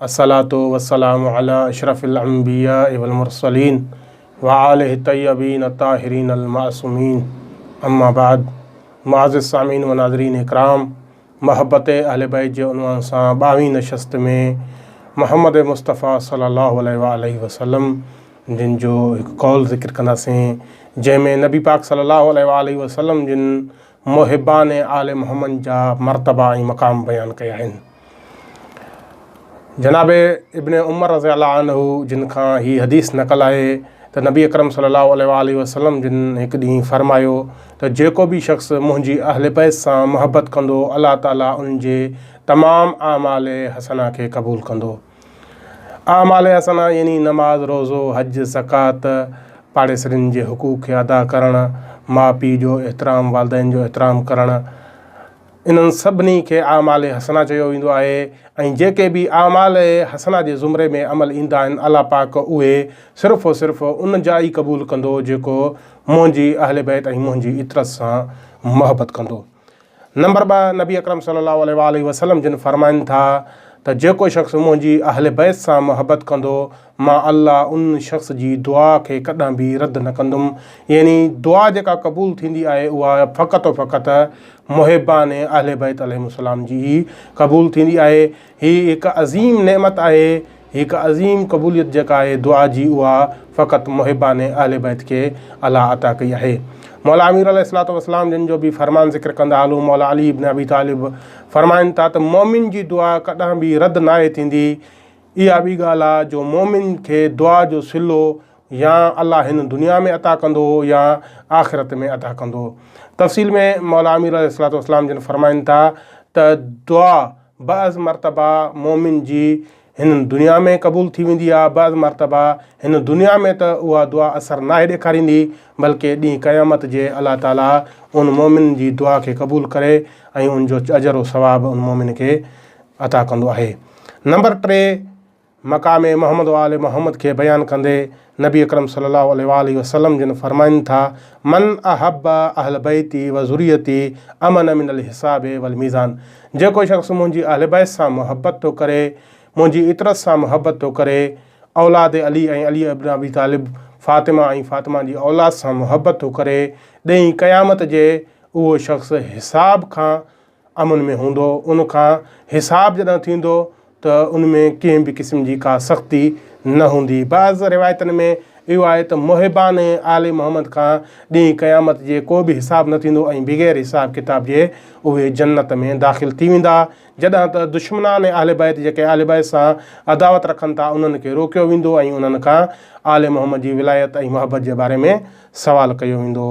الصلوة والسلام علي اشرف الانبياء والمرسلين وآله الطيبين الطاهرين المعصومين اما بعد معزز سامعين و ناظرين اڪرام محبت اهل بيت جي عنوان سان ٻاوهين نشست ۾ محمد مصطفيٰ صلي الله عليه وآله وسلم جن جو هڪ قول ذڪر ڪنداسين جنهن ۾ نبي پاڪ صلي الله عليه وآله وسلم جن محبان ۽ آل محمد جا مرتبا ۽ مقام بيان ڪيا آهن. جناب ابن عمر رضي الله عنه جن کان هي حديث نقل آهي ته نبي اڪرم صلي الله عليه وآله وسلم جن هڪ ڏينهن فرمايو ته جيڪو به شخص منهنجي اهل بيت سان محبت ڪندو الله تعالي ان جي تمام اعمال حسنه کي قبول ڪندو. اعمال حسنه يعني نماز، روزو، حج، زڪوات، پاڙيسرين جي حقوق کي ادا ڪرڻ، ماء پيء جو احترام، والدين جو احترام ڪرڻ، انهن سڀني کي اعمال حسنه چيو ويندو آهي ۽ جيڪي به اعمال حسنه جي زمري ۾ عمل ايندا آهن الله پاڪ اهي صرف و صرف ان جا ئي قبول ڪندو جيڪو منهنجي اهلبيت ۽ منهنجي عترت سان محبت ڪندو. نمبر ٻه، نبي اڪرم صلي الله عليه وآله وسلم جن فرمائن ٿا ته جيڪو شخص منهنجي اهل بيت سان محبت ڪندو مان الله ان شخص جي دعا کي ڪڏهن به رد نه ڪندم يعني دعا جيڪا قبول ٿيندي آهي اها فقط و فقط محبان اهل بيت عليهم السلام جي ئي قبول ٿيندي آهي هي هڪ عظيم نعمت آهي هڪ عظيم قبوليت جيڪا آهي دعا جي اها فقط محبان اهل بيت کي الله عطا ڪئي آهي مولا امير عليه الصلاه والسلام جن جو به فرمان ذڪر ڪندا هلون مولا علي ابن ابي طالب فرمائن ٿا ته مومن جي دعا ڪڏهن به رد ناهي ٿيندي اها ٻي ڳالهه آهي جو مومن کي دعا جو سلو يا الله هن دنيا ۾ عطا ڪندو يا آخرت ۾ عطا ڪندو تفصيل ۾ مولا امير عليه الصلاه والسلام جن فرمائن ٿا ته دعا بعض مرتبا مؤمن جي هن دنيا ۾ قبول ٿي ويندي آهي، بعض مرتبا هن دنيا ۾ ته اها دعا اثر ناهي ڏيکاريندي، بلڪه ڏينهن قيامت جي الله تعاليٰ ان مؤمن جي دعا کي قبول ڪري ۽ ان جو اجر و ثواب ان مؤمن کي عطا ڪندو آهي. نمبر ٽي، مقام محمد و آل محمد کي بيان ڪندي نبي اڪرم صلي الله عليه وآله وسلم جن فرمائن ٿا، من احب اهل بيتي و ذريتي امن من الحساب و الميزان جيڪو شخص منهنجي اهل بيت سان محبت ٿو ڪري، منهنجي عطرت سان محبت ٿو ڪري، اولاد علي ۽ علي ابن ابي طالب، فاطمه ۽ فاطمه جي اولاد سان محبت ٿو ڪري، ڏينهن قيامت جي اهو شخص حساب کان امن ۾ هوندو، ان کان حساب جڏهن ٿيندو ته ان ۾ ڪنهن به قسم جي ڪا سختي نه هوندي. بعض روايتن ۾ اهو آهي ته محبان ۽ آل محمد کان ڏينهن قيامت جي ڪو به حساب نه ٿيندو ۽ بغير حساب ڪتاب جي اهي جنت ۾ داخل ٿي ويندا، جڏهن ته دشمنان ۽ اهل بيت جيڪي آل بيت سان عداوت رکن ٿا انهن کي روڪيو ويندو ۽ انهن کان آل محمد جي ولايت ۽ محبت جي باري ۾ سوال ڪيو ويندو.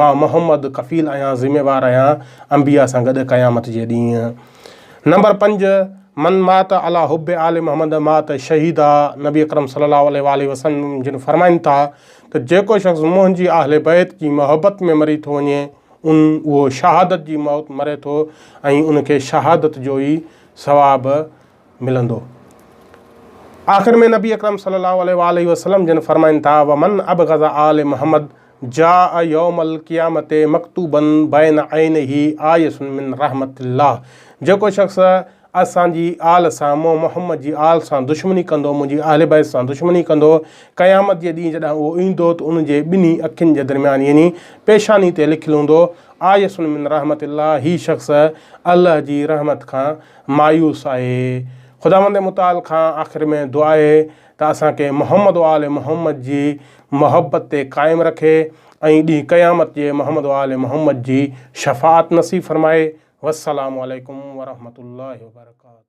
مان محمد ڪفيل آهيان ذميوار آهيان انبياء سان گڏ قيامت جي ڏينهن نمبر پنج من مات علا حب آل محمد مات شهيدا نبي اڪرم صلي الله عليه وآله وسلم جن فرمائن ٿا ته جيڪو شخص منهنجي اهل بيت جي محبت ۾ مري ٿو وڃي ان اهو شهادت جي موت مري ٿو ۽ ان کي شهادت جو ئي ثواب ملندو. آخر ۾ نبي اڪرم صلي الله عليه واٰله وسلم جن فرمائن ٿا، ومن ابغض آل محمد جاء يوم القيامة مڪتوبا بين عينيه آيس من رحمت الله جيڪو شخص اسان جي آل سان مون محمد جي آل سان دشمني ڪندو منهنجي اهل بيت سان دشمني ڪندو قيامت جي ڏينهن جڏهن اهو ايندو ته ان جي ٻنهي اکين جي درميان يعني پيشاني تي لکيل هوندو آيس من رحمت الله هي شخص الله جي رحمت کان مايوس آهي. خداوند متعال کان آخر ۾ دعا آهي ته اسان کي محمد و آل محمد جي محبت تي قائم رکي ۽ ڏينهن قيامت جي محمد و آل محمد جي شفاعت نصيب فرمائي. والسلام عليڪم ورحمة الله وبرڪاته.